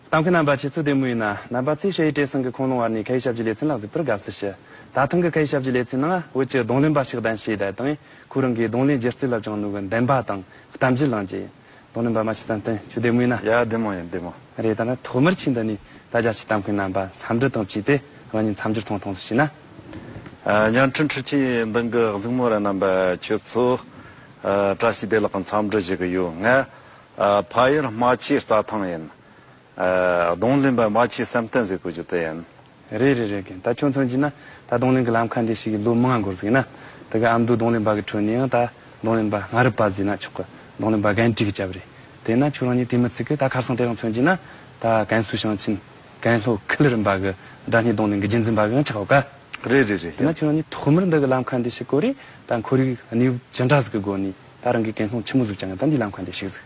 ཏང་གི་རྣམ་པ་ཆེ་ཚུལ་བདེ་མོ་ཡིན་ན་རྣམ་པ་ཚོས་ཤེས་ཡོད་བྲེལ་ཟིང་གི་ཁུངས་ལུང་བར་ནས་ཁ་ཡི་ཞབས་ཀྱི་ལས་ཚན་ལ་གཟིགས་པར་དགའ་བསུ་ཞུ། ད་ཐེངས་ཀྱི་ཁ་ཡི་ཞབས་ཀྱི་ལས་ཚན་ནང་བོད་ཀྱི་གདོང་ལེན་པ་ཞིག་གདན་ཞུས་བསྡད་དང་ཁོའི་རང་གིས་གདོང་ལེན་སྒྱུ་རྩལ་ལ་བཅངས་ནུས་པའི་འདུན་པ་དང་གཏམ་བརྗོད་བླངས་རྗེས། དོ་ནི་འབར་མ་ཆུ་དང་བསྟུན་ཆུ་ཟླའི་མུས་ན། ཡ་བདེ་མོ་ཡིན་བདེ་མོ། རེད་ད་ལྟ་ཐོག་མར་ཕྱིན་ད་ནི་ད་རྒྱ་ཆེ་གཏམ་གི་རྣམ་པ་མཚམས་འདྲི་དང་བཅས་ཏེ་རང་ཉིད་མཚམས་སྦྱོར་ཐོང་ཐོང་སུ་ཞིག་ན། ཉང་ཁྲི་འཕྲུལ་ཆས་མདུན་གི་གཟིགས་མོ་ར་རྣམ་པ་ཁྱོད་ཚོ། བཀྲ་ཤིས་བདེ་ལགས་མཚམས་འདྲི་བྱེད་གི་ཡོད་ངའི་ཕ་ཡུལ་རྨ་ཆུའི་རྩྭ་ཐང་ཡིན། རྡུང་གླིང་པ་མ་ཁྱི་བསམ་གཏན་ཟེར་དགོས་རྒྱུ་དེ་ཡིན། རེད་རེད་རེད་གིན་ད་ཁྱོད་ཚོ་གྱིས་ན་ད་རྡུང་གླིང་གི་ལམ་ཁ་འདི་ཞིག་གི་ལོ་མང་འགོར་ཟིག་ན་དེ་ག་ཨ་མདོའི་རྡུང་གླིང་པ་གི་ཁྲོད་ནས་ཡང་ད་རྡུང་གླིང་པ་སྔ་རི་པ་ཟིག་ན་ཆོག་གི་རྡུང་གླིང་པ་གན་དཀྲིས་གི་སྐྱབས་རེད་དེ་ན་ཁྱོད་རང་གཉིས་དེ་མི་ཚིག་གི་ད་ཁར་སང་དེ་རང་ཚོན་གྱིས་ན་ད་གན་སུ་ཞིང་ཆེན་གན་ལྷོ་ཁུལ་རིམ་པ་གི་སྦྲ་སྣེ་རྡུང་གླིང་གི་རྒྱུན་འཛིན་པ་གི་ཡང་ཆགས་ཡོད་ཀ། རེད་རེད་རེད་དེ་ན་ཡིན། ཁྱོད་རང་གཉིས་ཐོག་མར་འདི་གི་ལམ་ཁ་འདི་ཞིག་གོ་རེ་ད་འཁོར་རིགས་གནས་བབ་ཇི་འདྲ་ཟིག་གི་སྒོ་ནས་ད་རང་གིས་གན་ལྷོ་ཆེན་མོ་ཟུག་ཀྱང་ད་འདིའི་ལམ་ཁ་འདི་ཞིག་ཟིག།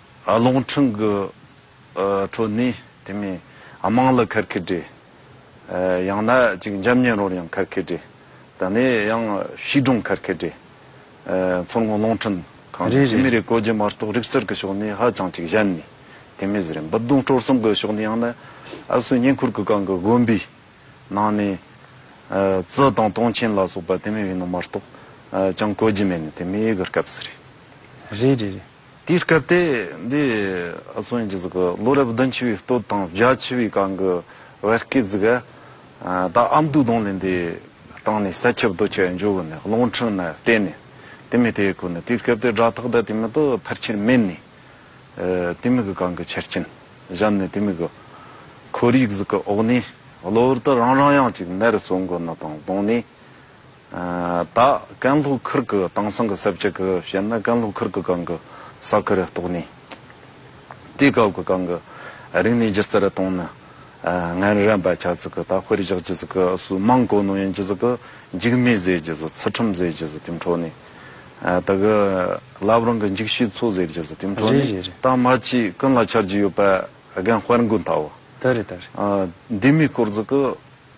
རླུང་འཕྲིན་གྱི་ཁྲོད་ནས་དེ་མིན་དམངས་ལ་ཁར་ཁེ་སྒྲས། ཡང་ན་ཅིག་འཇམ་ཉེ་རོར་ཡང་ཁར་ཁེ་སྒྲས། ད་ནས་ཡང་ཤིས་སྒྲུང་ཁར་ཁེ་སྒྲས། མཚོ་སྔོན་རླུང་འཕྲིན་ཁང་གིས་ཕྱི་མི་རེ་བཀོལ་རྗེས་མ་གཏོགས་རིག་རྩལ་གྱི་ཕྱོགས་ནས་ཧ་ཅང་ཅིག་གཞན་ནས་དེ་མིན་ཟེར་འབུད་རྡུང་སྤྲོ་གསུམ་གྱི་ཕྱོགས་ནས་ཡང་ན་ཨ་སུའི་བསྙེན་བཀུར་གྱི་སྒང་གི་དགོན་པའི་ནང་ནས་ཙི་དང་སྟོང་ཆེན་ལ་སོགས་པ་དེ་མིན་བའི་ནང་མ་གཏོགས་ཅང་བཀོལ་རྒྱུ་མེད་ནི་དེ་མིན་གྱི་སྐབས་སུ་རེད། རེད་རེད་རེད། དེའི་སྐབས་དེ་འདི་ཨ་ཚོགས་ཡིན་གྱི་གཟུགས་ཀྱི་ལོ་རབས་བདུན་ཆི་བའི་སྟོད་དང་བརྒྱ་ཆི་བའི་གང་གི་བར་སྐད་གཟུགས་ཨ་ད་ཨ་མདོའི་གདོང་ལེན་དེ་སྟེང་ནས་ས་ཁྱབ་རྡོ་ཁྱབ་འཇོག་གི་ནས་གླིང་ཕྲན་ན་བལྟས་ནས་དེ་མི་དེ་གོ་ནས་དེའི་སྐབས་དེ་སྒྲ་ཐག་ད་དེ་མི་དུ་ཕར་ཆེར་མེད་ནས་དེ་མི་གི་གང་གི་ཆ་རྐྱེན་བཞམས་ནས་དེ་མི་གི་ཁོར་ཡུག་གཟུགས་ཀྱི་འོག་ནས་གློ་བུར་དུ་རང་རང་ཡང་ཅིག་ནར་སོང་གི་ནི་དང་གདོང་ནས། ད་ཀན་ལྷོ་ཁུར་གི་དེང་སང་གི་ས་བཅད་གི་བཤད་ན་ཀན་ལྷོ་ཁུར་གི་སྒང་གི་ས་ཁུལ་རེ་གཏོགས་ནས། དེའི་སྐབས་ཀྱི་སྒང་གི་རིག་གནས་སྒྱུ་རྩལ་རེ་གཏོང་ན། ངན་རན་པ་ཆགས་ཚིག་གི་ད་དཔེར་བཞག་ཀྱི་ཚིག་གི་སུ་མང་གོ་ནོ་ཡན་ཀྱི་ཚིག་གི་འཇིགས་མེད་ཟེར་ཀྱི་ཚིག་ཚུལ་ཁྲིམས་ཟེར་ཀྱི་ཚིག་དེ་འཕྲོ་ནས། ད་གི་ལབ་རང་གི་འཇིགས་ཤིག་ཚོ་ཟེར་ཀྱི་ཚིག་དེ་འཕྲོ་ནས་ད་མ་ཅིག་ཀུན་ལ་འཆར་གྱི་ཡོད་པ་རྒན་དཔལ་མགོན་ལྟ་བུ། འདི་མི་སྐོར་ཚིག་གི།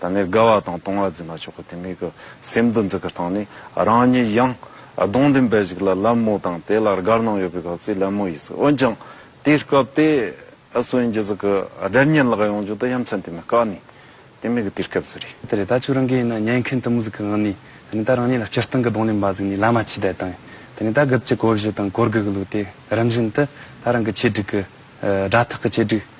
ད་ནི་དགའ་བ་དང་གཏོང་བ་འཛིན་མ་ཆོག་གོ་དེ་མིག་གི་སེམས་འདུ་འཛི་གི་སྟངས་ནི་རང་ཉིད་ཡང་གདོང་ལྡན་པའི་ཞིག་ལ་ལད་མོ་དང་དེ་ལ་དགར་སྣང་ཡོད་པའི་གག་ཚིག་ལད་མོ་ཡིས་འོན་ཀྱང་དེའི་སྐབས་དེ་ཨ་སུ་ཨིན་རྒྱལ་ཟིག་གི་དགྲ་གཉེན་ལགས་ཡོང་རྒྱུ་དེ་ཡ་མཚན་དེ་མི་དཀའ་ནི་དེ་མིག་གི་དུས་སྐབས་ཟིག་རེད། དེ་རེད་ད་ཆུ་རང་གི་ཡིན་ན་ཉན་མཁན་དུ་མོ་ཟིག་གི་ངང་ནས་ད་ནི་ད་རང་ཉིད་ལ་སྤྱིར་བཏང་གི་གདོང་ལེན་པ་ཟིག་ནི་ལ་མ་ཕྱི་བསྡད་དང་ད་ནི་ད་སྒབ་ཀྱི་གོ་བཞི་དང་གོར་དགུ་གི་ལུགས་དེ་རིམ་བཞིན་དུ་ད་རང་གི་ཆེད་སྒྲིག་གི་དགྲ་ཐག་གི་ཆེད་སྒྲིག་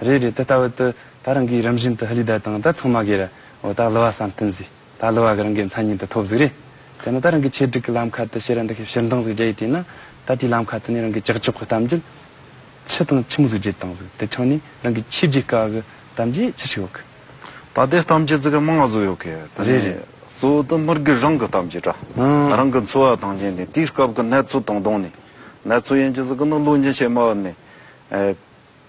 རེད་རེད་ད་ལྟ་བུ་དུ་ད་རང་གིས་རིམ་བཞིན་དུ་ཧི་ལི་དར་དང་ད་ཚང་མ་གེ་ར་འོ་ད་ལུ་བ་བསམ་སྟོན་ཟིག་ད་ལུ་བ་གི་རང་གི་མཚན་ཉིད་དུ་ཐོབ་ཟིག་རེད་དེ་ནི་ད་རང་གི་ཆེད་སྒྲིག་གི་ལམ་ཁ་དུ་ཤེས་ར་འདི་ཤེས་ཕྱིར་འདང་ཟིག་རྒྱ་ཡི་དེ་ན་ད་དེའི་ལམ་ཁ་དུ་ནས་རང་གི་ཀྱག་ཀྱོག་གི་གཏམ་རྒྱུད་ཕྱི་དང་ཕྱི་མོ་ཟིག་བརྗེད་དང་ཟིག་དེ་ཆང་ནས་རང་གི་ཆེས་བརྗེད་དཀའ་གི་གཏམ་རྒྱུད་ཅི་ཞིག་ཡོད་གི། ད་ལྟའི་གཏམ་རྒྱུད་ཟིག་མང་བ་ཟུག་ཡོད་གི་དེ་ནས་རེད་རེད། གཙོ་བོ་དུ་མར་གི་རང་གི་གཏམ་རྒྱུད་འདྲ་ཨང། རང་གི་འཚོ་བ་དང་གཉེན་ནས་དེའི་སྐབས་ཀྱི་གནས་ཚུལ་དང་བསྡོངས་ནས་གནས་ཚུལ་ཡན་གྱི་ཟིག་གི་ནི་བློ་འབྱིན་བྱེད་མ་བབས་ནས།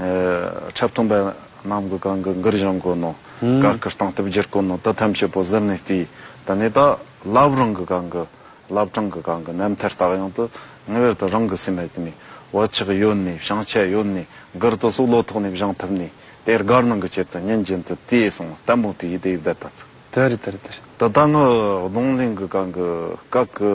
འཁྲབ་སྟོན་པ་རྣམས་ཀྱི་གང་གི་འགུར་གཞོན་དཀོན་ནོ། གར་གྱི་སྟངས་སྟབས་བསྒྱུར་དཀོན་ནོ་དོ་དམ་བྱེད་པོ་གཟིར་ནས་བལྟས། ད་ནས་ད་བླབས་རང་གི་གང་གི་བླབས་གྲངས་ཀྱི་གང་གི་རྣམ་ཐར་དག་ཡང་དུ་ངེས་པར་དུ་རང་གི་སེམས་ལ་དུས་ནས་བག་ཆགས་ཡོད་ནས་བྱང་ཆ་ཡོད་ནས་འགུར་དུ་སོགས་བློ་ཐོག་ནས་བཞེངས་ཐུབ་ནས་དེར་དགའ་སྣང་གི་ཆེད་དུ་ཉིན་རྒྱུན་དུ་དེ་གསུང་ལྟད་མོ་དེ་ཡིད་དེ་ཡིད་བདེ་ལྟ་ཚུལ། དེ་རེད་དེ་རེད་དེ་རེད། འདི་དག་ནི་གདོང་ལེན་གྱི་གང་གི་སྐབས་ཀྱི།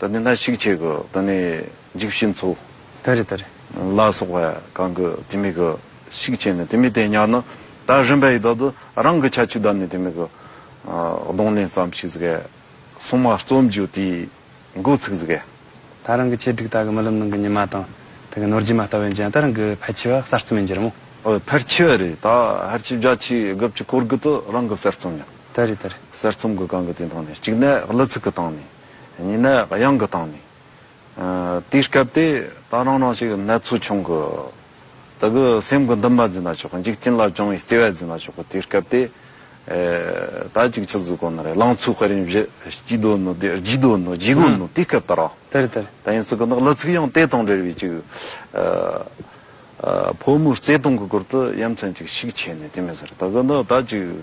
ད་ནི་ན་ཞིག་ཆེ་གི་ད་ནི་འཇིགས་བྱེད་མཚོ། ད་རེ་ད་རེ། ལ་སོགས་པ་གང་གི་དེ་མེད་གི་ཤིག་ཆེ་ནི་དེ་མེད་དེ་ཉག་ནི་ད་རིམ་པ་ཡི་དག་ཏུ་རང་གི་ཁྱད་ཆོས་ད་ནི་དེ་མེད་གི། གདོང་ལེན་ཙམ་ཞིག་ཟིག་གས། སྲུང་མ་རྩོམ་རྒྱུ་དེའི་འགོ་ཚུགས་ཟིག་གས། ད་རང་གི་ཆེ་སྒྲིག་ད་གི་རྨི་ལམ་ནང་གི་ཉི་མ་དང་ད་གི་ནོར་རྗེས་མ་ལྟ་བས་འཇན་ད་རང་གི་ཕལ་ཆེ་བ་གསར་རྩོམ་ཡིན་གྱི་རེད་མོ། འོ་ཕལ་ཆེ་བ་རེད་ད་ཧར་ཆེ་བརྒྱ་ཆའི་དགུ་བཅུ་སྐོར་གི་དུ་རང་གི་གསར་རྩོམ་ཡིན། ད་རེ་ད་རེ། གསར་རྩོམ་གི་གང་གི་དེ་དང་ནི་གཅིག་ནས་གླུ་ཚིག་གི་སྟེང་ནས། གཉིས་ནས་གཡང་གི་སྟེང་ནས། དེའི་སྐབས་དེ་ད་རང་རང་ཞིག་ནད་ཚུལ་བྱུང་གི། ད་གི་སེམས་ཀྱི་འདུན་པ་འཛིན་ན་ཆོག་གི་འཇིག་རྟེན་ལ་བྱུང་བའི་བརྩེ་བས་འཛིན་ན་ཆོག་གི་དེའི་སྐབས་དེ། ད་གཅིག་ཆུ་ཟོས་གོ་ནི་རེད་ལང་ཚོའི་དཔལ་རིན་བཞི་སྐྱིད་སྡོད་ནི་དེ་བརྗིད་སྡོད་ནི་བརྗིད་གོ་ནི་དེའི་སྐབས་དེ་ར། དེ་རེད་དེ་རེད། ད་ཡིན་སྲིད་གི་འདུག་ལི་ཚིག་ཡང་དེ་དང་འབྲེལ་བའི་ཅིག། ཕོ་མོའི་བརྩེ་དུང་གི་སྐོར་དུ་ཡ་མཚན་ཅིག་ཤིག་བྱས་ནས་དེ་མི་ཟེར་ད་གི་འདུག་ད་ཅིག།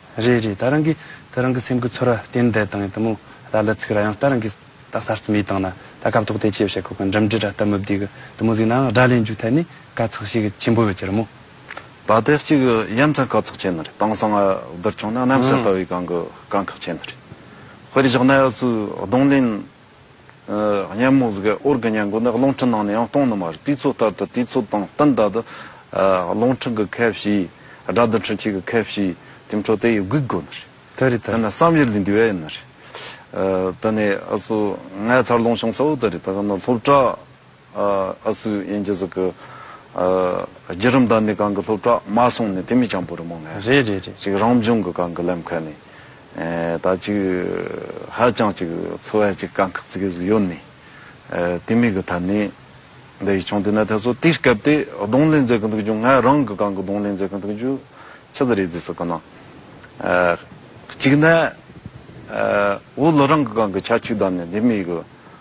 རེད་རེད་ད་རང་གིས་ད་རང་གི་སེམས་གི་ཚོར་བ་བསྟན་དེ་དང་ད་མོ་ར་ལ་ཚིག་ར་ཡང་ད་རང་གིས་ད་གསར་རྩོམ་ཡིག་དང་ན་ད་སྐབས་ཐོག་དེ་ཆེད་བཤད་ཁོ་གི་འགྲིམ་འགྲིལ་ར་ད་མི་བསྡིག་གི་ད་མོ་གཟིགས་ནའང་སྒྲ་ལེན་རྒྱུ་ཐད་ནས་དཀའ་ཚེགས་ཤིག་ཆེན་པོ་ཡོད་ཀྱི་རེད་མོ། ད་ལྟའི་གཅིག་ཡ་མཚན་དཀའ་ཚེགས་ཆེན་རེད་དེང་སང་བསྡུར་བྱུང་ན་གནམ་ས་ལྟ་བུའི་གངས་གི་དཀའ་ཁག་ཆེན་རེད་དཔེར་བཞག་ན་ཡ་སུའི་གདོང་ལེན། གཉན་མོ་ཟིག་གི་འོར་གྱི་གཉན་མགོ་ནི་རླུང་ཕྲིན་ནང་ནས་ཡང་སྟོང་ནི་མ་རེད་དུས་ཚོད་ལྟར་དུ་དུས་ཚོད་དང་བསྟུན་ད་དུ་རླུང་ཕྲིན་གྱི་ཁ་བྱེའི་དགྲ་བདུད་འཕྲུལ་ཆས་ཀྱི་ཁ་བྱེའི་དེ་འཕྲོ་དེ་ཡི་སྒུག་དགོས་ནི་རེད་དེ་རེད་དེ་ནི་བསམ་ཡུལ་ལས་འདས་པ་ཡིན་ནི་རེད་དེ་ནི་ཨ་སུ་ངའི་འཚར་ལོངས་བྱུང་ས་འོག་དེ་རེད་དེ་ག་ནི་སློབ་གྲྭ། ཨ་སུ་ཡན་རྗེ་ཟིག་གིས། རྒྱུད་རིམ་དང་ནི་གང་གི་སློབ་གྲྭ་མ་སོང་ནས་དེ་མི་སྤྱང་པོ་རི་མོ་ངན། རེད་རེད་རེད། ཅིག་རང་བྱུང་གི་གང་གི་ལེམ་ཁ་ནི། ད་ཅིག་ཧ་ཅང་ཅིག་འཚོ་བའི་ཅིག་དཀའ་ཁག་ཅིག་གི་ཟིག་ཡོད་ནི། དེ་མིག་གི་ཐད་ནི། འདི་ཡི་ཆུང་དེ་ནས་ཐད་སོ་དེའི་སྐབས་དེ་གདོང་ལེན་མཛད་གི་འདུག་རྒྱུ་ངས་རང་གི་གང་གི་གདོང་ལེན་མཛད་གི་འདུག་རྒྱུ། ཆི་ཟིག་རེད་ཟིག་ཟེར་གི་ན། ཅིག་ནས། འུ་ལོ་རང་གི་གང་གི་ཆ་ཆུ་དང་ནི་དེ་མིག་གི།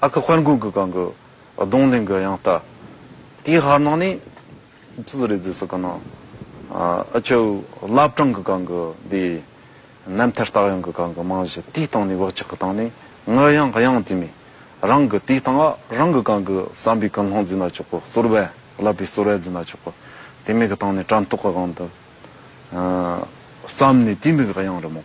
ཨ་ཁུ་དཔལ་མགོན་གྱི་གང་གི་གདོང་ལེན་གྱི་ཡང་བལྟ། དེའི་ཧར་ནང་ནས་ཙི་ཙི་རེ་ཙི་ཟེར་གི་ན། ཨ་ཁྱོད་བླ་བྲང་གི་གང་གི་དེ། རྣམ་ཐར་རྟགས་ཡང་གི་གང་གི་རྨང་གཞི་དེའི་སྟེང་ནས་བག་ཆགས་ཀྱི་སྟེང་ནས་ངུ་ཡང་དབྱངས་དེ་མེད། རང་གི་དེའི་སྟེང་རང་གི་གང་གི་བསམ་པའི་ཀུན་སློང་འཛིན་ན་ཆོག་གོ་གསོལ་བས་བསླབ་པའི་གསོལ་བས་འཛིན་ན་ཆོག་གོ། དེ་མིག་གི་སྟེང་ནས་དྲན་རྟོག་གི་གང་དུ། བརྩམས་ནས་དེའི་མིག་དབྱངས་རི་མོ།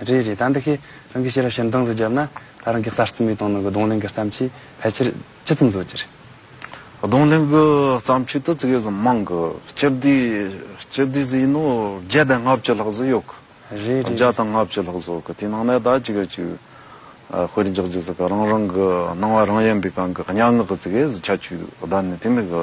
རེད་རེད་ད་འདི་གས་རང་གིས་ཤེས་རབ་ཤེས་ནས་གདངས་སུ་བརྒྱབ་ན་ད་རང་གིས་གསར་རྩོམ་ཡིག་སྟོང་ནང་གི་གདོང་ལེན་གི་བརྩམས་ཆོས་ཕལ་ཆེར་ཇི་ཙམ་བཟོ་རྒྱུ་རེད། གདོང་ལེན་གི་བརྩམས་ཆོས་དེ་ཙི་གེ་ཟིག་མང་གི་སྤྱི་བདེ་སྤྱི་བདེ་ཟིག་ཡིན་ནོ་བརྒྱ་དང་ལྔ་བཅུ་ལྷག་ཟིག་ཡོད་གི། རེད་རེད་བརྒྱ་རེད། དང་ལྔ་བཅུ་ལྷག་བཟོ་གི་དེའི་ནང་ནས་ད་ཅི་གེ་ཅིག་དཔེར་འཇགས་རྒྱུ་ཟིག་གི་རང་རང་གི་སྣང་བ་རང་ཡན་པའི་སྒང་གི་སྙན་ངག་གི་ཙི་གེ་ཟིག་ཆ་བཅུ་བདའ་ནས་དེ་མིན་གི།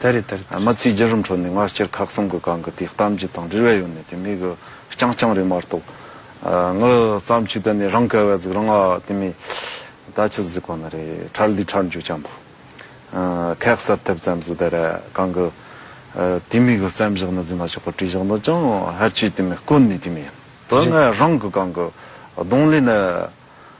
དེ་རེད་དེ་རེད། ཨ་མ་ཚེ་རྒྱལ་རིམ་གྲོ་ནི་སྔ་ཕྱིར་ཁག་གསུམ་གྱི་སྒང་གི་དེའི་གཏམ་རྒྱུད་དང་འབྲེལ་བའི་ཡོད་ནི་དེ་མི་གི་རྐྱང་རྐྱང་རེད་མ་གཏོགས། ངའི་བརྩམས་ཆོས་དེ་ནི་རང་ག་བའི་གཟུགས་རང་ཨ་དེ་མི་ད་ཆི་ཟིག་གོ་ན་རེ་ཁྲར་འདི་ཁྲར་འཇུག་ཅང་བོ། ཁག་གསར་ཐེབས་ཙམ་ཟིག་དེ་རེད་གང་གི། དེ་མི་གི་བརྩམས་བཞག་ན་རྫི་མ་ཆོག་གི་བྲིས་བཞག་ན་ཅང་ཧར་ཆོས་དེ་མི་དཀོན་ནི་དེ་མི་ཡིན། དེ་སྔའི་རང་གི་སྒང་གི་གདོང་ལེན་ནི།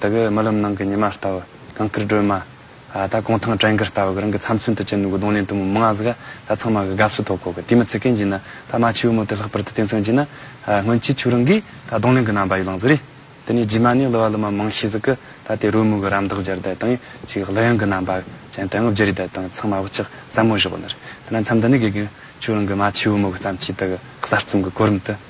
དེ་གའི་རྨི་ལམ་ནང་གི་ཉི་མ་ལྟ་བུ། གངས་སྐྱིད་སྒྲོལ་མ། ད་གུང་ཐང་བྲན་གིར་ལྟ་བུ་གི་རང་གི་ཚབ་མཚོན་དུ་བྱས་འདུག་གདོང་ལེན་དུ་མོ་མི་ང་ཟིག་ད་ཚང་མ་གི་དགའ་བསུ་ཐོག་ཁོ་གི་དུས་མི་ཚེ་གན་གྱི་ནི་ད་རྨ་ཆེའུ་མོ་དེ་ལྷག་པར་དུ་བརྟེན་སོང་གྱི་ནི། སྔོན་ཆད་ཁྱོད་རང་གིས་ད་གདོང་ལེན་གི་རྣམ་པ་ཡི་ལང་ཟིག་རེད། དེ་ནས་རྗེས་མ་ནས་གླུ་བ་གླུ་མ་མང་ཤས་ཟིག་གི་ད་དེ་རོལ་མོ་གི་རམ་འདེགས་སྦྱར་བསྡད་དང་ཅིག་གླུ་དབྱངས་གི་རྣམ་པ་ཅན་དེ་ངོ་བརྗེ་རེས་བསྡད་དང་ཚང་མ་བུ་ཆགས་ཟབ་མོ་བཞག་ནི་རེད། དེ་ན་མཚམས་འདི་ནས་གི་གི་ཁྱོད་རང་གི་རྨ་ཆེའུ་མོ་གི་བརྩམས་ཆོས་དེ་གི་གསར་རྩོམ་གི་གོ་རིམ་དུ།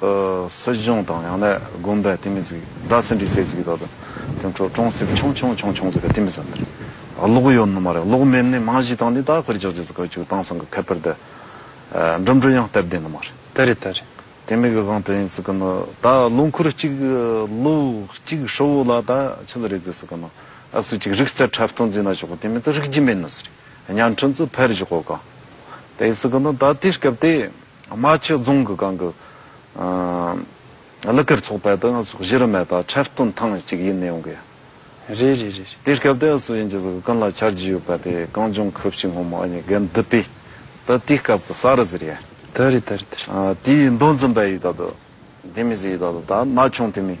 སྲིད་གཞུང་དང་ཡང་ན་དགོན་པའི་སྟེང་མི་ཚིག་སྒྲ་ཟིན་བྲིས་ཟེར་ཟིག་ད་དུང་དེང་ཁྲོ་ཀྲོང་སིབ་ཆོང་ཆོང་ཆོང་ཆོང་ཟེར་བའི་སྟེང་མི་ཟ་འདི་རེད་གློག་གཡོ་ནི་མ་རེད་གློག་མེད་ནི་མང་གཞི་དང་ནི་ད་དཀར་ཆག་ཆག་ཟེར་ག་ཆུ་དྭངས་སང་གི་ཁ་པར་དེ་འགྲིམ་འགྲུལ་ཡང་སྟབས་བདེ་ནི་མ་རེད། ད་རེད་ད་རེད། དེ་མིག་གི་སྒང་དུ་ཡིན་ཟེར་གི་ནི་ད་ལོ་འཁོར་གཅིག་ལོ་གཅིག་ཧྲིལ་བོ་ལ་ད་ཆི་ལ་རེད་ཟེར་ཟེར་གི་ནི་ཨ་སུ་གཅིག་རིག་རྩལ་འཁྲབ་སྟོན་རྫིག་ན་ཆོག་གི་དེ་མིན་ད་རིག་རྒྱུ་མེད་ནི་ཟེར་བརྙན་འཕྲིན་ཚོ་ཕེར་རྒྱུ་ཁོ་གང་དེ་ཟེར་གི་ནི་ད་དེའི་སྐབས་དེ། རྨ་ཆུ་རྫོང་གི་སྒང་གི་གླུ་གར་ཚོགས་པའི་དང་གཞི་རིམ་མེད་པ་འཕྲལ་བསྟུན་ཐེངས་གཅིག་ཡིན་ནི་ཡོང་གི་རེད་རེད་རེད། དེའི་སྐབས་དེ་སུ་ཡིན་གྱི་སྐུ་ལ་ཆར་རྒྱུས་ཡོད་པ་དེ་གངས་ལྗོངས་ཁུལ་ཕྱི་སྔོན་མ་ཨ་ཉི་གན་དྷི་པི་ཏི་དེའི་སྐབས་ཀྱི་ས་རུ་ཟེར་ཡ། དེ་རེད་དེ་རེད་དེ་རེད། དེའི་མདོ་འཛིན་པ་ཡིས་ད་དུ་དེ་མི་ཟེར་ཡིས་ད་དུ་ད་ན་ཆུང་དེ་མིན།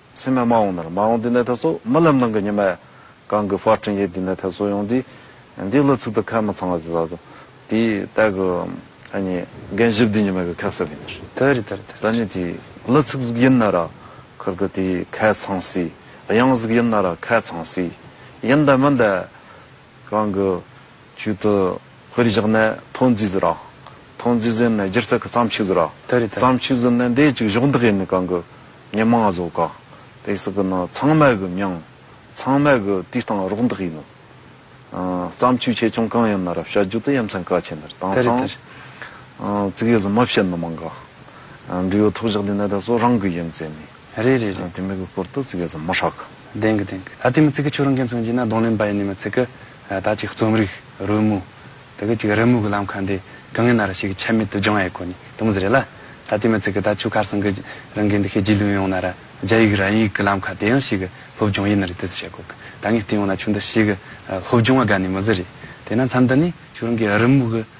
སེམས་མ་འོངས་ནར་མ་འོངས་འདི་ནས་ད་གཟོད་རྨི་ལམ་ནང་གི་ཉི་མས་གང་གི་བར་སྤྲིན་ཡིག་འདི་ནས་ད་གཟོད་ཡོང་འདི། འདི་ལོ་ཚིག་ཏུ་ཁ་མི་ཚང་བ་ཅི་ཟ་དོ། དེ་ལྟར་གི་ཨ་ནི་རྒན་ཞིབ་འདི་ཉི་མ་གི་ཁ་གསབ་ཡིན་ནར། ད་རི་དར་དར། ད་ནི་དེ་ལོ་ཚིག་ཟིག་ཡིན་ན་ར་ཁར་གི་དེ་ཁ་ཚང་སྲིད་གཡང་ཟིག་ཡིན་ན་ར་ཁ་ཚང་སྲིད་ཡིན་འདའ་མི་འདའ། གང་གི་ཆུད་དུ་དཔེར་བཞག་ནས་ཐོ་འཛིས་ཟེར་རོ། ཐོ་འཛིས་ཟེར་ནས་སྒྱུ་རྩལ་གྱི་བརྩམས་ཆོས་ཟེར་རོ། བརྩམས་ཆོས་ཟེར་ནས་འདས་ཅིག་གཞོགས་འདེགས་ཡིན་ནི་གང་གི་ཉི་མ་གཟོ་ག། དེ་སྲིད་ཀྱི་ནི་ཚང་མལ་གྱི་མྱང། ཚང་མལ་གྱི་དུས་སྟངས་རོགས་འདེགས་ཡིན་ནོ། བརྩམས་ཆོས་ཆེ་ཆུང་གང་ཡིན་ན་རབ་བྱ་རྒྱུད་དུ་ཡ་མཚན་ག་ཆད་འདིར་དྭངས་སང། བརྩིགས་ཡོད་ཟིན་མ་བཤད་ནི་མང་ག། འབྲི་ཡོད་ཐོག་བཞག་འདི་ནས་ད་གཟོད་རང་གི་ཡིན་ཟེར་ནས། རེད་རེད་རེད་དེ་མི་གི་སྐོར་དུ་ཙི་གེ་རྫོང་མོ་ཧྲག་གི། བདེན་གི་བདེན་གི་ད་དེ་མི་ཙི་གེ་ཁྱོད་རང་གིས་མཚོན་གྱིས་ན་གདོང་ལེན་པ་ཡིན་ནི་མི་ཚིག་གི་ད་ཅིག་རྩོམ་རིག་རོལ་མོ་དེ་གི་ཅིག་རི་མོ་གི་ལམ་ཁ་འདི་གི་ངེ་ན་རི་ཞིག་གི་ཆ་མེད་དུ་སྦྱང་ཡས་གོ་ནི་དུ་མི་ཟེ་རེད་ལ་ད་དེ་མི་ཙི་གི་ད་ཆུ་ཁར་སང་གི་རང་གིས་འདི་ཤེས་རྗེས་ལུས་ཡོང་ན་ར་རྒྱ་ཡིག་ར་ཡིག་གི་ལམ་ཁ་དེ་ཡང་ཞིག་གི་སློབ་སྦྱོང་ཡིན་ནི་རེད་དུ་ཟེ་བྱས་གོ་གི་ད་ངས་བལྟས་ཡོང་ན་ཆུ་འདི་ཞིག་གི་སློབ་སྦྱོང་བ་དགའ་ནི་མི་ཟེ་རེད་དེ་ན་མཚམས་འདི་ནི་ཁྱོད་རང་གིས་རི་མོ་གི།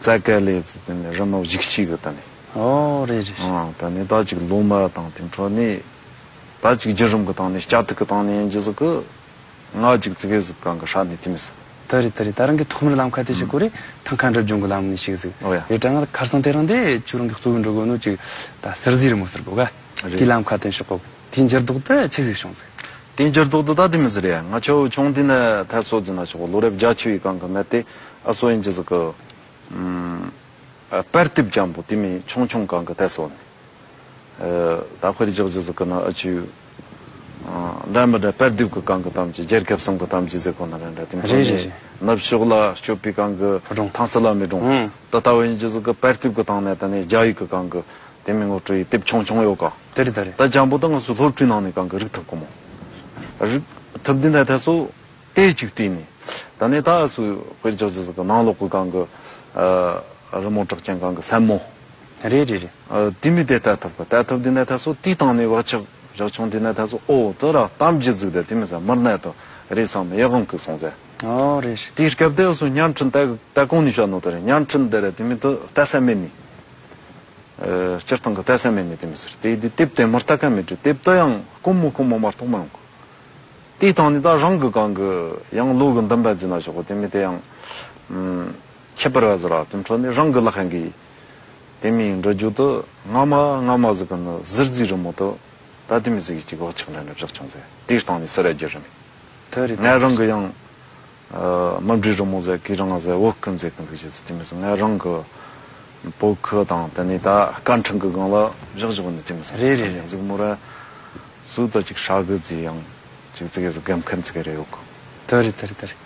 རྩ་སྐལ་ལས་ཚུལ་དེ་ནི་རི་མོ་བཞི་གཅིག་གི་དང་ནི། ཨོ་རེད་རེད་རེད། ད་ནི་ད་ཅིག་ལུགས་མ་དང་དེ་འཕྲོ་ནི། ད་ཅིག་རྒྱུ་རིམ་གི་དང་ནི་སྐྱ་ཐིག་གི་དང་ནི་ཡན་གྱི་གཟུགས་ཀྱི། ང་ཅིག་ཙི་གའི་གཟུགས་གང་གི་ཧྲ་ནི་དེ་མི་ཟེར། ད་རེད་ད་རེད་ད་རང་གི་ཐོག་མར་ལམ་ཁ་དེ་ཞིག་གོ་རེ་ཐང་ཁ་འགྲུབ་སྦྱོང་གི་ལམ་ནི་ཞིག་ཟིག་ཨོ་ཡ། རེད་དྲ་ང་ཁར་སོང་དེ་རང་དེ་ཁྱོད་རང་གི་གཙོ་བོའི་འགྲོ་དགོས་ནོ་ཅིག་ད་ཟིར་ཟིའི་རི་མོ་ཟེར་དགོས་ག། རེད། དེའི་ལམ་ཁ་དེ་ཞོག་གོ། དེའི་འགྱིར་ལྡོག་ཏུ་ཅིག་ཟིག་བྱུང་ཟིག། དེང་འགྱུར་ལྡོག་ཏུ་ད་དེ་མི་ཟེར་ཡ་ང་ཆོ་ཆུང་དེ་ནས་ཐད་སོ་ཛི་ན་ཆོག་གོ་ལོ་རེབ་བརྒྱ་ཆི་བའི་གང་གི་མེ་དེ་ཨ་སོ་ཡིན་ཇི་ཟི་གི། པར་ཏིབ་ཀྱང་པོ་དེ་མི་ཆུང་ཆུང་གང་གི་ཐད་སོ་ནས། ད་ཕེར་རྒྱག་ཇི་ཟི་གི་ནི་ཨ་ཆུ། འདྲ་མི་འདྲ་པར་ཏིབ་གི་གང་གི་གཏམ་གྱི་རྒྱལ་ཁབ་གསུམ་གི་གཏམ་གྱི་ཟེ་གོ་ནི་རེ་འདྲ་དེ་མཐོང་རྗེས་ནུབ་ཕྱོགས་ལ་སྐྱོད་པའི་གང་གི་ཐང་སི་ལ་མི་སྒྲུང། དེ་ལྟ་བུ་ཡིན་ཇི་ཟི་གི་པར་ཏིབ་གི་སྟེང་ནས་དེ་ནས་རྒྱ་ཡིག་གི་གང་གི། དེ་མིན་ལོ་ཀྲི་ཡི་དེབ་ཆུང་ཆུང་ཡོད་ག། དེ་རེད་ད་རེད། ད་ལྗང་བུ་དང་ང་སུ་སློབ་ཕྲུག་ནང་ནས་གང་གི་རིག་ཐབས་ཁོ་མོ། རིག་ཐབས་འདི་འདྲ་ཐད་སུ་ལྟས་ཅིག་བྲིས་ནས་ད་ནས་ད་སུ་དཔེར་རྒྱག་ཅི་ཟིག་གི་ནང་ལོག་གི་གང་གི། རི་མོ་གྲགས་ཅན་གང་གི་སེན་མོ། རེད་རེད་རེད། དེ་མི་དེ་ལྟ་ཐབས་གི་ལྟ་ཐབས་འདི་འདྲ་ཐད་སུ་ལྟས་བཏང་ནས་བག་ཆགས་རག་ཆུང་འདི་འདྲ་ཐད་སུ་ཨོ་དེ་ར་གཏམ་གྱི་ཟིག་དེ་དེ་མི་ཟ་མིར་གནད་དུ་རེད་བསམ་ནས་ཡག་གམ་གུག་སོང་ཟེར། ཨོ་རེད་རེད། དེའི་སྐབས་དེ་སུ་བརྙན་འཕྲིན་ལྟ་གང་ནས་བྱ་ནོ་དེ་ར་བརྙན་འཕྲིན་དེ་ར་དེ་མི་དེ་ལྟ་སད་མེད་ནས། སྤྱིར་བཏང་གི་དད་སེམས་མེད་ནས་དེ་མི་ཟེར། དེ་དེ་དེབ་དེ་མུར་ལྟ་མཁན་མི་འདྲི། དེབ་ལྟ་ཡང་དཀོན་མོ་དཀོན་མོ་མར་ཐོག་མ་ཡོང་གི། དེའི་སྟེང་ནས་ད་རང་གི་གང་གི་ཡང་ལུགས་ཀྱི་འདུན་པ་འཛིན་ན་ཆོག་གི་དེ་མིན་དེ་ཡང། ཁྱད་པར་བ་ཟེར་བ་དེ་འཕྲོ་ནས་རང་གི་བླ་ཁན་གི། དེ་མིན་འགྲོ་རྒྱུག་ཏུ་སྔ་མ་སྔ་མ་ཟེར་གི་ནི་གཟིར་རྫིས་རི་མོ་དུ། ད་དེ་མི་ཟེར་གི་ཅིག་འོག་ཆགས་འདྲ་འདྲ་བཞག་བྱུང་ཚེ་དེའི་སྟེང་ནས་ཟེར་ཡ་རྒྱུ་རེད། ངས་རང་གི་ཡང། རྨ་འབྲི་རི་མོ་ཟེར་གི་རང་ང་ཟེར་འོག་ཀུན་ཟེར་གི་འདུག་བྱས་ཚུལ་དེ་མི་གསུང་ང་རང་གི་པོ་ཁུ་དང་དེ་ནས་ད་སྐར་འཕྲེང་གི་སྒང་ལ་བཞག་བཞག་པ་འདི་དེ་མི་གསུང་རེད་རེད་རེད་གཟིགས་མོ་ར་སུ་ད་ཅིག་ཧྲག་གི་རྫི་ཡང་ཅིག་རྫི་གས་སུ་སྒམ་ཁན་རྫི་གས་རེད་ཡོག་གི། དེ་རེད་དེ་རེད་དེ་རེད་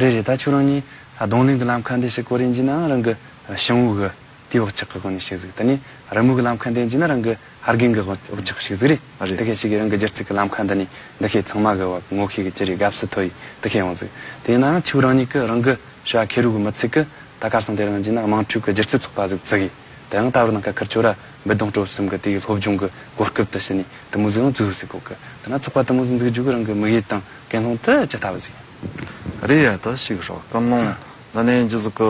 རེད་རེད་ད་ཁྱོད་རང་གཉིས་གདོང་ལེན་གི་ལམ་ཁ་འདི་ཞིག་གོ་རིན་གྱི་ནའང་རང་གི་ཞིང་བུ་གི་དེའི་འོག་ཆགས་ཀྱི་སྒོ་ནས་ཤིག་གཟིགས་ད་ནི་རི་མོ་གི་ལམ་ཁ་འདི་འཇིག་ན་རང་གི་ཧར་གིང་གི་འོག་ཆགས་ཤིག་གཟིགས་རེད་འདི་ཁས་ཤིག་གིས་རང་གི་སྒྱུར་ཚིག་གི་ལམ་ཁ་འདི་ནི་འདི་ཁས་ཚང་མ་གི་བབ་ངོ་ཁས་གི་ཅི་རིགས་དགའ་བསུ་ཐོ་ཡིས་འདི་ཁས་ཡོང་གཟིགས་དེ་ཡིན་ནའང་ཕྱུགས་རང་ཉིད་གི་རང་གི་ཞི་བ་ཁེ་རུ་གི་མི་ཚིག་གི་ད་དཀར་སང་དེ་རང་འཇིག་ན་དམངས་ཁྲུས་གི་སྒྱུར་ཚིག་ཚོགས་པ་གཟུགས་བཙུགས་ཡིས་ད་ཡང་ད་བར་ནང་ཁ་ཁར་ཆོས་ར་འབུད་སྡོང་སྤྲོ་གསུམ་གི་དེའི་སློབ་སྦྱོང་གི་གོ་སྐབས་དུ་ཕྱི་ནས་དུ་མུ་ཟི་ཡང་བཙུགས་ཟིག་གོ་གི་ད་ན་ཚོགས་པ་དུ་མུ་ཟི་འཛུགས་རྒྱུ་གི་རང་གི་དམིགས་ཡུལ་དང་ཀན་སློང་དུ་ཅི་ལྟ་བུ་ཟིག་ཡིན། རེད་ཡ་ད་ཞིག་ཧྲག་ཀན་སློང་ད་ནི་འཇིག་ཟིག་གི།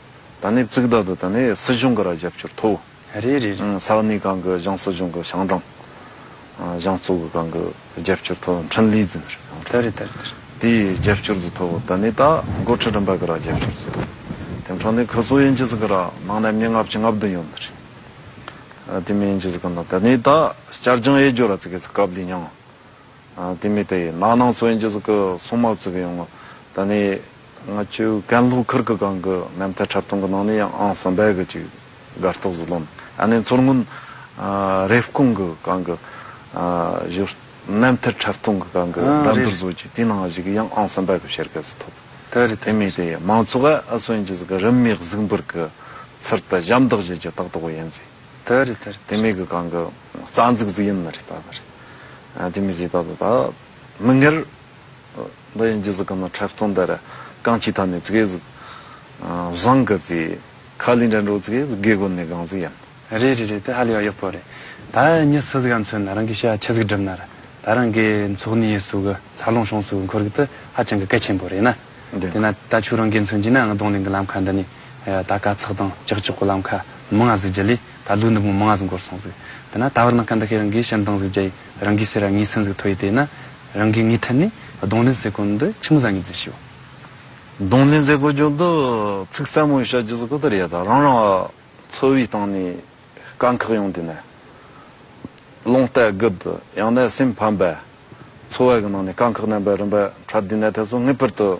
ད་ནི་བཙུགས་བདག་དུ་ད་ནི་སྲིད་གཞུང་གི་ར་རྒྱབ་སྐྱོར་ཐོབ། རེད་རེད་རེད། ས་གནས་གང་གི་ཞང་སྲིད་གཞུང་གི་ཞང་ཀྲང། ཞང་གཙོ་བོ་གང་གི་རྒྱབ་སྐྱོར་ཐོབ་ཡང་ཁྲིན་ལི་ཛིན་རེད་ཞང་ཀྲང། ད་རེད་ད་རེད་ད་རེད། དེའི་རྒྱབ་སྐྱོར་ཟིག་ཐོབ་ད་ནི་ད་མགོ་ཁྲིད་རིམ་པ་གི་ར་རྒྱབ་སྐྱོར་ཟིག་ཐོབ། དེ་མཁྲང་ནི་ཁི་སོ་ཡན་ཅི་ཟིག་གི་ར་ནང་ནས་མི་ལྔ་བཅུ་ལྔ་བདུན་ཡོད་རེད། དེ་མི་ཡན་ཅི་ཟིག་གི་ནང་ད་ནི་ད་བསྐྱར་སྦྱང་ཡས་སྦྱོར་ར་ཙི་གེ་ཟིག་སྐབས་འདི་མྱངས། དེ་མི་དེ་ཡིན་ན་ནང་སོ་ཡིན་ཅིག་གི་སོ་མ་བཙུགས་ཡོང་ངོ། ད་ནི་ང་ཆོས་གན་ལྷོ་ཁུར་གི་སྒང་གི་མེ་མཐའི་འཁྲབ་སྟོང་གི་ནང་ནས་ཡང་ཨང་གསུམ་པའི་གི་ཅིག་དགའ་རྟགས་སུ་ལོན་ཨ་ནི་མཚོར་སྔོན་རེབ་སྐོང་གི་སྒང་གི་བཞུར་མེ་མཐའི་འཁྲབ་སྟོང་གི་སྒང་གི་སྒྲ་མདུར་བཟོ་ཅིག་དེའི་ནང་གཞིག་གི་ཡང་ཨང་གསུམ་པའི་གི་བཤེར་སྐལ་སུ་ཐོབ། དེ་མི་དེ་ཡིན་མང་ཚོགས་ཨ་ཨ་སོ་ཡིན་ཅིག་གི་རིམ་མེ་གཟུགས་འབུར་གི་ཚུར་དུ་ཞབས་འདེགས་བཞེས་ཀྱི་རྟགས་ཐོག་གི་ཡིན་ཟིག། དེ་མི་གི་སྒང་གི། རྩ་འཛུགས་ཟིག་ཡིན་ནི་རེད་ད་ལྟར། དེ་མི་ཟིག་ད་ལྟ་ད། མི་ངེར། འདི་ཡིན་གྱི་ཟིག་གི་ནི་འཕྲལ་སྟོན་འདི་ར། རྐང་གཅིག་ཐ་ནི་ཟིག་གེ་ཟིག། བཟང་གི་ཟིག། ཁ་ལི་འདྲ་འགྲོ་ཟིག་གེ་ཟིག་གེ་གོ་ནི་གང་ཟིག་ཡིན། རེད་རེད་རེད་དེ་ཧ་ལས་བ་ཡག་པོ་རེད། ད་ཉི་སི་ཟིག་ག་མཚོན་ན་རང་གི་ཤ་ཆི་ཟིག་འགྲིམ་ན་ར། ད་རང་གི་མཚོག་ནི་ཡེ་སུ་གི་ཚ་ལོང་ཤོང་སུ་འཁོར་གི་དི་ཧ་ཅང་གི་སྐད་ཆེན་པོ་རེད་ན། དེ་ན་ད་ཆུ་རང་གི་མཚོན་གྱི་ན་ང་གདོང་ལེན་གི་ལམ་ཁ་འདི་ནི། ད་དཀའ་ཚག་དང་ཀྱག་ཀྱོག་གི་ལམ་ཁ་མི་ང་ཟིག་གྱི་ལི། ད་དུ་འདི་མོ་མ་ང་ཟིག་འགོར་སོང་ཟིག་དེ་ན་ད་བར་ནག་ཁ་འདི་ཁས་རང་གིས་ཞལ་མདངས་ཟིག་རྒྱ་ཡིས་རང་གིས་སེ་ར་ངའི་སེམས་ཟིག་ཐོ་ཡིས་དེ་ན་རང་གིས་ངའི་ཐད་ནས་གདོང་ལེན་ཟེ་གོ་འདི་ཁྱི་མོ་བཟའ་ངའི་རྫི་ཤི་བ། གདོང་ལེན་ཟེ་གོ་རྒྱུ་འདི་ཚིག་ཟབ་མོ་ཡིས་བཤད་རྒྱུ་ཟིག་གོ་དེར་ཡ་ད་རང་རང་འཚོ་བའི་སྟེང་ནས་དཀའ་འཁག་ཡོང་དེ་ན་ལོང་སྟད་རྒུད་དུ་ཡང་ན་སེམས་ཕམ་པས་འཚོ་བ་གི་ནང་ནས་དཀའ་འཁག་རྣམ་པའི་རིམ་པ་འཕྲད་དེ་ན་དེ་ཚོ་ངེས་པར་དུ།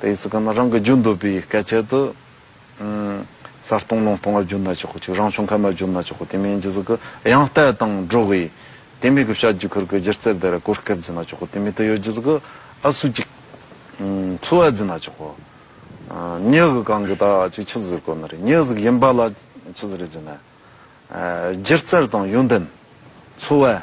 དེ་ཡི་སི་ཀ་ན་རང་གི་རྒྱུ་འདོད་པའི་སྐད་ཆད་དུ། གསར་སྟོང་ལུང་སྟོང་བ་རྒྱུ་ན་ཆོག་གོ་ཆོག་རང་བྱུང་མཁལ་མ་རྒྱུ་ན་ཆོག་གོ་དེ་མིན་རྒྱུ་ཟི་ཀི་ཡང་བལྟས་དང་འགྲོ་གི། དེ་མིན་གི་བྱ་རྒྱུ་ཁུར་གི་སྒྱུ་རྩལ་བེ་རི་གོར་སྐེབས་རྒྱུ་ན་ཆོག་གོ་དེ་མིན་དུ་ཡོད་རྒྱུ་ཟི་ཀི་ཨ་སུ་ཅིག། འཚོ་བ་རྒྱུ་ན་ཆོག་གོ། མྱི་གི་གང་གི་ད་ཅིག་ཆི་ཟིར་གོ་ནི་རེད་མྱི་ཟི་ཀི་ཡིན་པ་ལ་ཆི་ཟིར་རྒྱུ་ན། སྒྱུ་རྩལ་དང་ཡོན་ཏན། འཚོ་བ།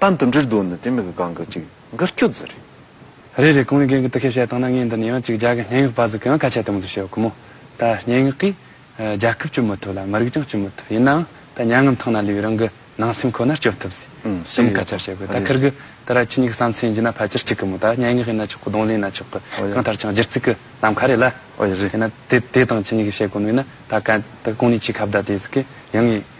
ལྟ་འདི་འདྲིར་སྡོད་ནི་དེ་མི་གི་གང་གི་གཅིག་འགུལ་སྐྱོད་རྫི་རེད། རེད་རེད་གང་ལས་གན་གི་དུ་ཤེས་བྱ་བཏང་ན་ངས་འདི་ནས་ཡང་གཅིག་རྒྱ་གི་སྙན་ངག་པ་ཟིག་གིའང་ཁ་ཆད་གཏོང་རྩིས་བྱེད་ཀི་མོ། ད་སྙན་ངག་གིས་རྒྱལ་ཁབ་སྐྱོབ་མི་ཐུབ་ལ་མི་རིགས་ཀྱང་སྐྱོབ་མི་ཐུབ་ཡིན་ནའང་ད་མྱ་ངན་ཐང་ན་ལུས་པའི་རང་གི་ནང་སེམས་ཁོ་ནར་སྐྱོབ་ཐུབ་ཟིག་གསུམ་ཁ་ཆག་བྱེད་དགོས་ད་ཁིར་གི་ད་ར་ཁྱི་གཉིས་ཀྱི་བསམ་ཚུལ་ཡིན་གྱི་ན་ཕལ་ཆེར་གཅིག་གི་མོ་ད་སྙན་ངག་ཡིན་ན་ཆོག་གི་གདོང་ལེན་ཡིན་ན་ཆོག་གི་གང་ལྟར་ཀྱང་སྒྱུར་རྩིས་གི་ལམ་ཁ་རེད་ལ། ཡིན་ན་དེ་དེ་དང་ཁྱི་གཉིས་ཀྱི་བྱེད་སྒོ་ནོས་ན་ད་ག་ད་གང་ནས་ཁྱི་ཁ་བརྡ་དེ་ཟིག་གི་ཡིན་ངེས།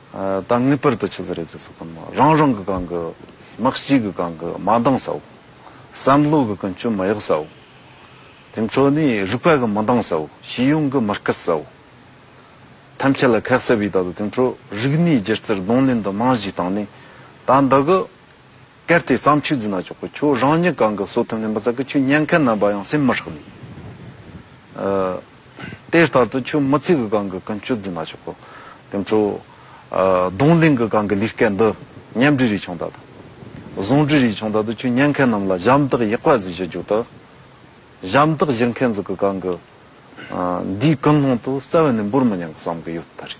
ད་ངེས་པར་དུ་ཆི་ཟི་རེ་ཛི་སོགས་ཀུན་མོ་རང་རང་གི་གང་གི་དམག་སྤྱི་གི་གང་གི་མ་འདང་སའོ། བསམ་བློ་གི་ཀུན་སྤྱོད་མ་ཡག་སའོ། དེ་ཚོ་ནི་རིག་པ་གི་མི་འདང་སའོ་ཤེས་ཡོན་གི་མི་སྐད་སའོ། ཐམས་ཅད་ལ་ཁ་གསལ་བའི་བརྡ་དོ་དེ་ཚོ་རིག་གནས་སྒྱུ་རྩལ་གདོང་ལེན་དུ་རྨང་གཞི་བཏང་ནས་ད་འདི་གི། གལ་ཏེ་བརྩམས་ཆོས་འཛིན་ན་ཆོག་གི་ཁྱོད་རང་ཉིད་གང་གི་གསོལ་ཐུན་ལེན་པ་ཙམ་གྱིས་ཁྱོད་ཉན་མཁན་རྣམས་པ་ཡང་སེམས་མི་ཧྲག་ནས། དེ་ལྟར་དུ་ཁྱོད་མི་ཚིག་གི་གང་གི་ཀུན་སྤྱོད་འཛིན་ན་ཆོག་གི། དེ་ཚོ། གདོང་གླིང་གི་གང་གི་ལུས་སྐད་འདི། ཉམས་འབྲི་རིགས་ཆུང་དག་དང། བཟང་འབྲི་རིགས་ཆུང་དག་ཏུ་ཁྱོད་ཉན་མཁན་རྣམས་ལ་ཞབས་འདེགས་ཡག་པ་བཟོས་ཤིག་རྒྱུ་དག། ཞབས་འདེགས་བཞེས་མཁན་ཚོ་གི་གང་གི། འདིའི་ཀུན་སློང་དུ་རྩ་བ་ནས་འབུར་མི་ཉན་གི་བསམ་གི་ཡོད་ད་རེད།